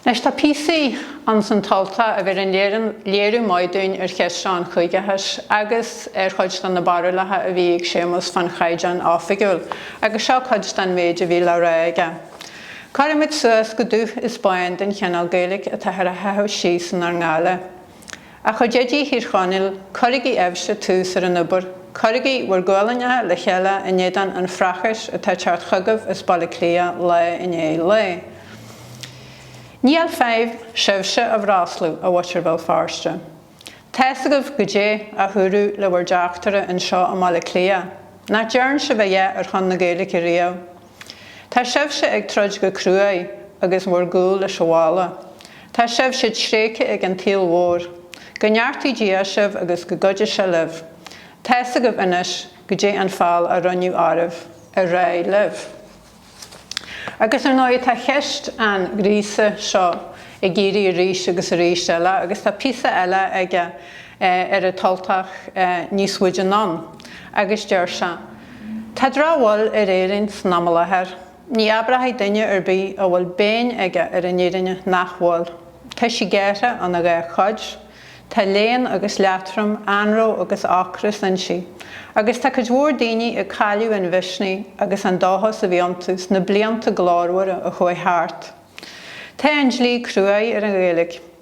Anois tá píosaí ann san tUltach a bheireann léiriú maith dúinn ar cheist seo an chúigeachais agus ar chuid de na barúlacha a bhí ag Séamas fán Chaighdeán Oifigiúil agus seo cuid den mhéid a bhí le rá aige, Cuirimid suas go dubh is bán den chineál Gaeilge atáthar a sháthadh síos inár ngoile. A chuid oidí Thír Chonaill, cuirigí sibhse tús ar an obair, cuirigí bhur ngualainneacha le chéile in éadán an phrácáis atá ag teacht chugaibh as Baile Átha Cliath lá i ndiaidh lae. Níl feidhm sibhse a bhroslú, a mhuintir Bhéal Feirste. Tá's agaibh goidé a húradh le bhur dteachtaire anseo i mBaile Átha Cliath, nach dtearn sibh a dhath ar shon na Gaeilge riamh? Tá sibhse ag troid go cruaidh agus bhur gcúl leis an bhalla. Tá sibhse tréigthe ag an tsaol mhór. Go neartaí Dia sibh agus go gcuidí sé libh. Tá's agaibh anois goidé an feall a rinneadh oraibh. Ar aghaidh libh. Agus ar ndóigh tá ceist an ghríosaithe seo ag éirí arís agus arís eile agus tá píosa eile aige ar An tUltach níos faide anonn agus deir sé, Tá drochbhail ar Éirinn san am i láthair. Ní abróidh duine ar bith a bhfuil binn aige ar an fhírinne nach bhfuil. Tá sí gearrtha ina dhá chuid. Tá léan agus leatrom, anró agus ocras inti. Agus tá cuid mhór daoine ag cailleadh an mhisnigh agus an dóchas a bhí iontu sna blianta glórmhara a chuaigh thart. Tá an dlí cruaidh ar an Ghaeilge.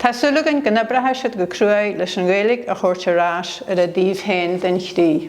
Tá súil againn go n-oibreoidh siad go cruaidh leis an Ghaeilge a thabhairt ar ais ar a dtaobh féin den chrích.